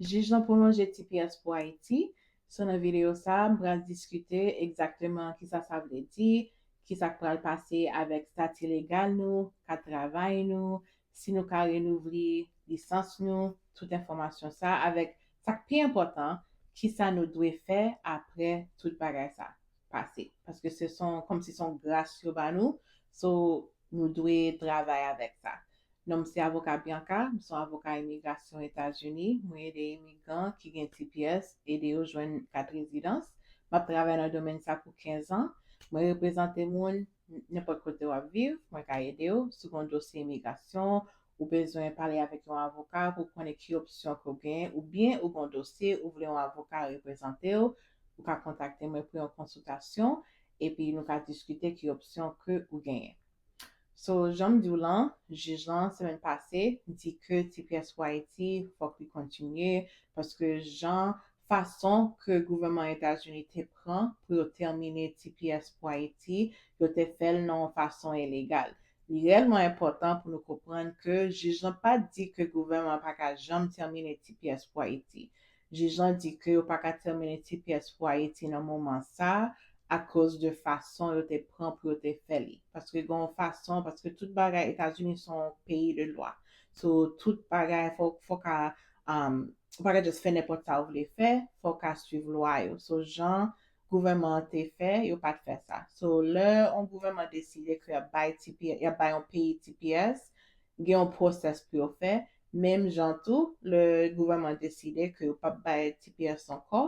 Jij lan pwolonje tps pou Ayiti, so nan videyo sa a m pral diskite egzakteman kisa sa vle di, kisa k pral pase avèk stati legal nou, kat travay nou, si nou ka renouvle lisans nou, tout enfòmasyon sa avèk sa k pi enpòtan kisa nou dwe fè aprè tout bagay sa pase paske se son kòmsi son gras yo ba nou so nou dwe travay avèk sa Non m se avoka Bianca, m son avoka imigrasyon Etazini, mwen ede imigran ki gen tps ede yo jwenn kat rezidans, map travay nan domèn sa pou 15 an, mwen reprezante moun nenpòt kote wap viv mwen ka edew si w gon dosye imigrasyon ou bezwen pale avèk yon avoka pou w konnen ki opsyon ke w gen oubyen ou gon dosye ou vle yon avoka reprezante w ou ka kontakte mwen pou yon konsiltasyon epi nou ka diskite ki opsyon ke ou genyen. So janm diw lan, jij lan semèn pase di ke ti pyès pou Ayiti fòk li kontinye paske jan fason ke gouvèman Etazini te pran pou yo tèmine ti pyès pou Ayiti yo te fèl nan yon fason elegal. Li reyèlman enpòtan pou nou konprann ke jij lan pat di ke gouvèman pa ka janm tèmine ti pyès pou Ayiti. Jij lan di ke yo pa ka tèmine ti pyès pou Ayiti nan moman sa a akoz de fason yo te pran pou yo te fè li. Paske gen yon fason, paske tout bagay, Etazini se yon peyi de lwa. So, tout bagay fò w ka, ou pa ka just fè nenpòt sa ou vle fè, fò w ka swiv lwa yo. So, jan gouvènman an te fè, yo pa t fè sa. So, lè yon gouvènman deside ke y ap bay ti, y ap bay yon peyi ti pyès, gen yon pwosès pou yo fè, Menm jan tou, lè gouvènman deside ke yo p ap bay tps ankò,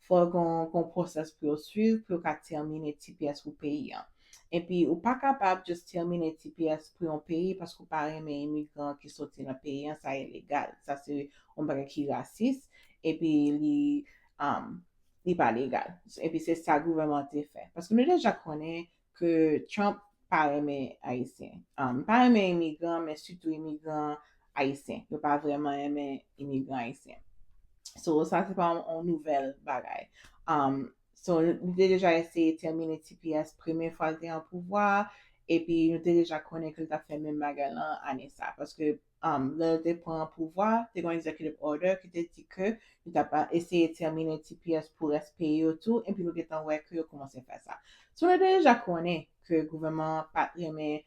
fò gen yon pwosès pou yo swiv pou yo ka tèmine tps pou peyi an. Enpi, ou pa kapab jis tèmine tps pou yon peyi paske ou pa renmen imigran ki soti nan peyi an, sa ilegal. Sa se yon bagay ki rasis, epi li li pa legal. Epi se sa gouvènman an te fè. Paske nou deja konnen ke Trump pa renmen Ayisyen. Li pa renmen imigran, men sitou imigran Ayisyen. Yo pa vrèman renmen imigran Ayisyen. So, sa se pa yon nouvèl bagay. So, li te deja eseye tèmine tps premye fwa li te an pouvwa, epi nou te deja konnen ke li t ap fè menm bagay lan ane sa. Paske lè yo te pran pouvwa a, te gon executive order ki te di ke yo tap eseye tèmine tps pou rès peyi yo tou epi nou gentan wè ke yo koumanse fè sa. So nou te deja konnen ke gouvèman an pat renmen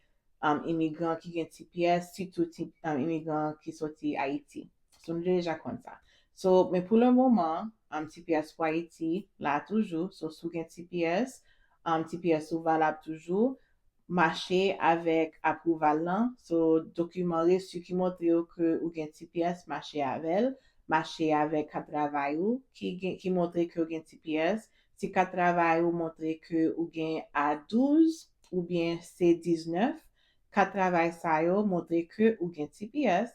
imigran ki gen tps sitou imigran ki soti Ayiti. So nou te deja konn sa. So men pou le moman tps pou Ayiti la toujou so si w gen tps tps ou valab toujou. mache avèk aprouval lan so dokiman resu ki montre yo ke ou gen tps mache avèl mache avèk kat travay ou ki gen ki montre ke ou gen tps si kat travay ou montre ke ou gen a 12 oubyen se 19 kat travay sa yo montre ke ou gen tps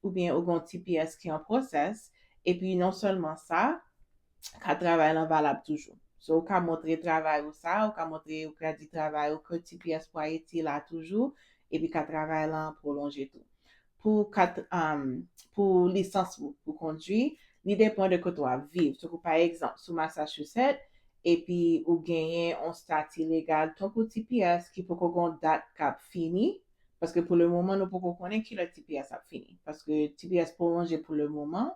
oubyen ou gen yon tps ki an process epi non sèlman sa kat travay lan valab toujou so ou ka montre travay ou sa ou ka montre ou kredi travay ou ke tps pou ayiti la toujou epi kat travay lan pwolonje tou pou kat pou lisans ou pou kondwi li depan de kote wap viv tankou pa egzanp sou Massachusetts epi ou genyen yon stati legal tankou tps ki poko gen yon dat kap fini Paske pou le moman nou poko konnen kilè tps ap fini. Paske tps pwolonje pou le moman.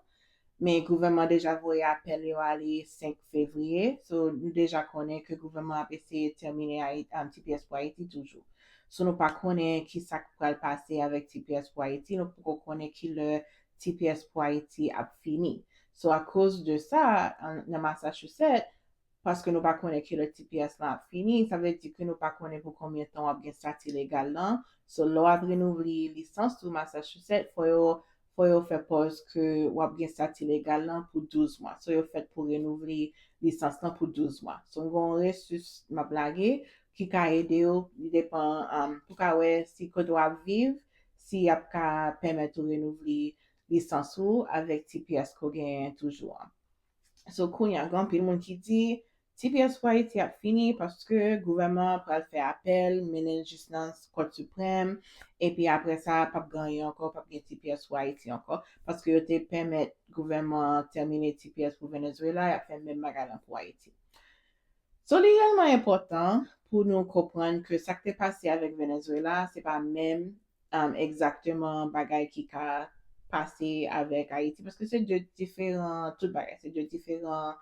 Men gouvèman deja voye apèl yo ale 5 fevriye. So nou deja konnen ke gouvèman ap eseye tèmine tps pou Ayiti toujou. So nou pa konnen kisak pral pase avèk tps pou Ayiti. Nou poko konnen kilè tps pou Ayiti ap fini. So akoz de sa nan Massachusetts paske nou pa konnen kilè tps lan ap fini, sa vle di ke nou pa konnen pou konbyen tan wap gen stati legal lan, so lè wap renouvle lisans ou Massachusetts fò yo fò yo fè pòz ke wap gen stati legal lan pou 12 mwa, so yo fèt pou renouvle lisans lan pou 12 mwa. So m gen yon resus map lage ki ka ede ou, li depan pou ka wè si kote wap viv si yap ka pèmèt ou renouvle lisans ou avèk tps ke w genyen toujou an. So kounya gen anpil moun ki di tps pou Ayiti ap fini paske gouvèman an pral fè apèl mennen l jis nan Kòt Siprèm epi aprè sa pap gen anyen ankò, pap gen tps pou Ayiti ankò paske yo te pèmèt gouvèman an tèmine tps pou Venezuela yap fè menm bagay lan pou Ayiti. So li reyèlman enpòtan pou nou konprann ke sak te pase avèk Venezuela se pa menm Egzakteman bagay ki ka pase avèk Ayiti. Paske se 2 diferan tout bagay. Se 2 diferan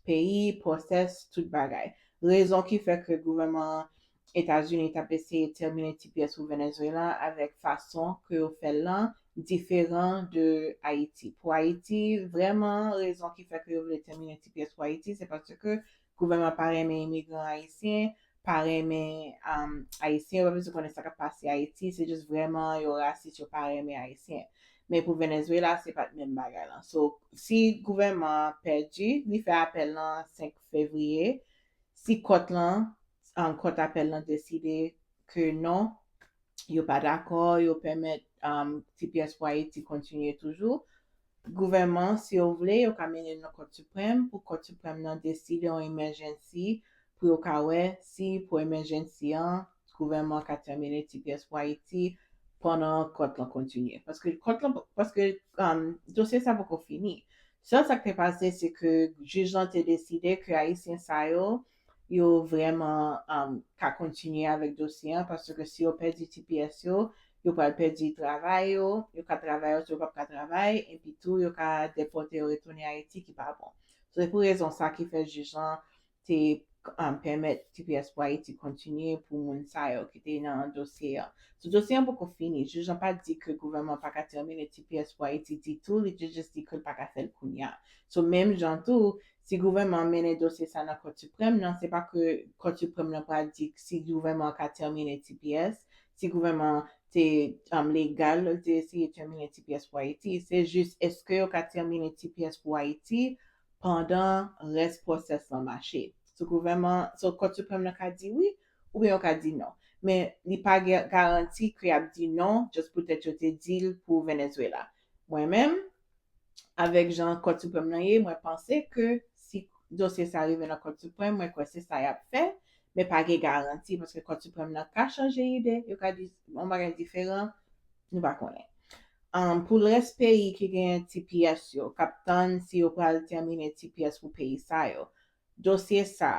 peyi, pwosès, tout bagay. Rezon ki fè ke gouvèman Etazini t ap eseye tèmine tps pou Venezuela avèk fason ke yo fè l lan diferan de Ayiti. Pou Ayiti, vrèman rezon ki fè ke yo vle tèmine tps pou Ayiti se paske Gouvènman pa renmen imigran ayisyen, pa renmen ayisyen, yo pa bezwen konnen sa kap pase ayiti, se just vrèman yo rasis yo pa renmen ayisyen. Men pou Venezuela se pat menm bagay lan. So si gouvènman an pèdi, li fè apèl lan 5 fevriye, si kòt lan, kòt apèl lan deside ke non, yo pa dakò, yo pèmèt tps pou ayiti kontinye toujou, Gouvèman si yo vle yo ka mennen nan Kòt Siprèm pou Kòt Siprèm nan deside on emèjènsi pou yo ka wè si pou emèjènsi an gouvèman ka tèmine tps pou Ayiti pandan Kòt lan kontinye paske Kòt lan paske dosye sa poko fini. Sèl sa k te pase se ke jij lan te deside ke Ayisyen sa yo yo vrèman ka kontinye avèk dosye an paske si yo pèdi tps yo, yo pral pèdi travay yo, yo ka travay yo tou yo pap ka travay epi tou yo ka depòte yo retounen Ayiti ki pa bon. So se pou rezon sa ki fè jij lan te pèmèt tps pou Ayiti kontinye pou moun sa yo ki te nan dosye an. So dosye an poko fini, jij lan pa di ke gouvènman an pa ka tèmine tps pou Ayiti ditou li te jis di ke l pa ka fè l kounya. So menm jan tou Si gouvènman an mennen dosye sa nan Kòt Siprèm nan, se pa ke Kòt Siprèm nan pral di si gouvènman an ka tèmine tps, si gouvènman an te legal lè l te eseye tèmine tps pou Ayiti. Se jis èske yo ka tèmine tps pou Ayiti pandan rès pwosès lan mache. So gouvènman, so Kòt Siprèm nan ka di wi oubyen yo ka di non. Men li pa gen garanti ke y ap di non just poutèt yo te di l pou Venezuela. Mwen menm, avèk jan Kòt Siprèm lan ye, mwen panse ke si dosye sa rive nan Kòt Siprèm, mwen kwè se sa y ap fè, men pa gen garanti, paske Kòt Siprèm lan ka chanje ide, yo ka di yon bagay diferan, nou pa konnen. Pou lrès peyi ki gen tps yo, k ap tann si yo pral tèmine tps pou peyi sa yo, Dosye sa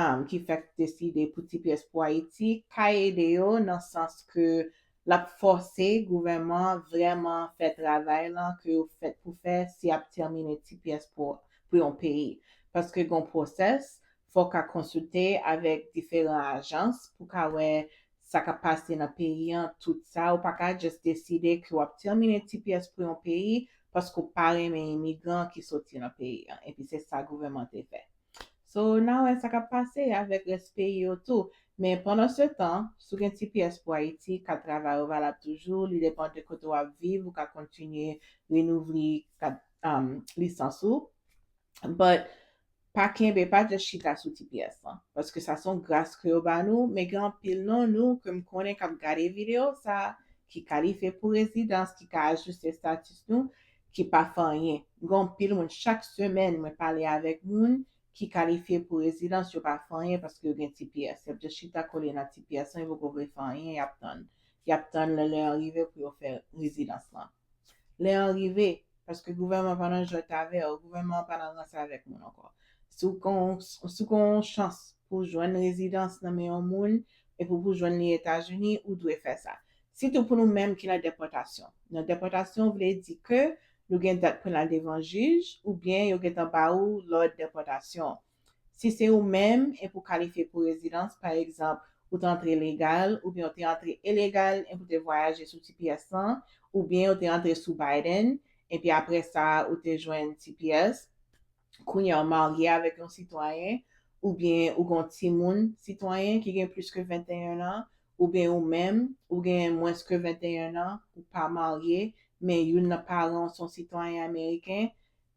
a ki fèk deside pou ti pyès pou Ayiti ka ede yo nan sans ke l ap fòse gouvèman vrèman fè travay lan ke yo fèt pou fè si y ap tèmine ti pyès pou pou yon peyi paske gon pwosès fò w ka konsilte avèk diferan ajans pou ka wè sa kap pase nan peyi an tout sa ou paka just deside ke wap termine tps pou yon peyi paske ou pa renmen imigran ki soti nan peyi an epi se sa gouveman te fè so na wè sa kap pase avek res peyi yo tou men pandan se tan sou gen tps pou ayiti kat travay ou valab toujou li depan de kote wap viv ou ka kontinye renouvle kat lisans ou but Pa kenbe, pa just chita sou ti pyès lan, paske sa son gras ke yo ba nou, men gen anpil nan nou ke m konnen kap gade video sa ki kalifye pou rezidans, ki ka ajiste status nou, ki pa fè anyen. M gen anpil moun chak semèn mwen pale avèk moun ki kalifye pou rezidans yo pa fè anyen paske yo gen ti pyès, yap just chita kole nan ti pyès lan yo poko vle fè anyen yap tann, yap tann lè lè an rive pou yo fè rezidans lan. Lè an rive, paske gouvènman an pa nan jwèt avè w, gouvènman an pa nan ranse avèk moun ankò, si w gen yon, si w gen yon chans pou w jwenn rezidans nan men yon moun e pou pou jwenn li Etazini, ou dwe fè sa. Sitou pou nou menm ki nan depòtasyon. Nan depòtasyon vle di ke nou gen dat pou n al devan jij oubyen yo gentan ba ou lòd depòtasyon. Si se ou menm, epi ou kalifye pou rezidans, pa egzanp, ou te antre legal, oubyen ou te antre elegal, epi ou te vwayaje sou tps lan, oubyen ou te antre sou Biden, epi apre sa a ou te jwenn tps, kounye a ou marye avèk yon sitwayen, oubyen ou gen yon timoun sitwayen ki gen plis ke 21 an, oubyen ou menm, ou gen mwens ke 21 an, ou pa marye, men youn nan paran ou se yon sitwayen ameriken,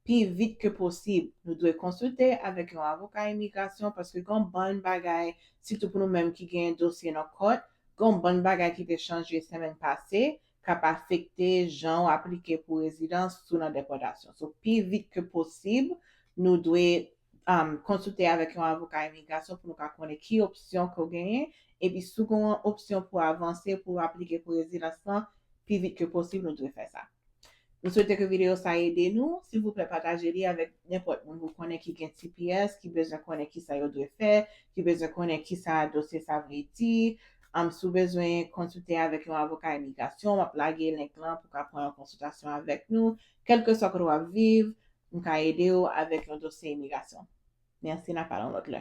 Pi vit ke posib, nou dwe konsilte avèk yon avoka imigrasyon paske gen yon bann bagay, sitou pou nou menm ki genyen dosye nan kòt, gen yon bann bagay ki te chanje semenn pase k ap afekte jan ou aplike pou rezidans sou nan depòtasyon. So pi vit ke posib, nou dwe. konsilte avèk yon avoka imigrasyon pou nou ka konnen ki opsyon ke w genyen, epi si w gen yon opsyon pou avanse pou w aplike pou rezidans lan, pi vit ke posib nou dwe fè sa. Nou swete ke videyo sa ede nou, silvouplè pataje li avèk nenpòt moun ou konnen ki gen tps, ki bezwen konnen kisa yo dwe fè, ki bezwen konnen kisa dosye sa vle di, si w bezwen konsilte avèk yon avoka imigrasyon, m ap lage link lan pou w ka pran yon konsiltasyon avèk nou, kèlkeswa kote w ap viv, M ka ede w avèk yon dosye imigrasyon. Mèsi, n a pale yon lòt lè.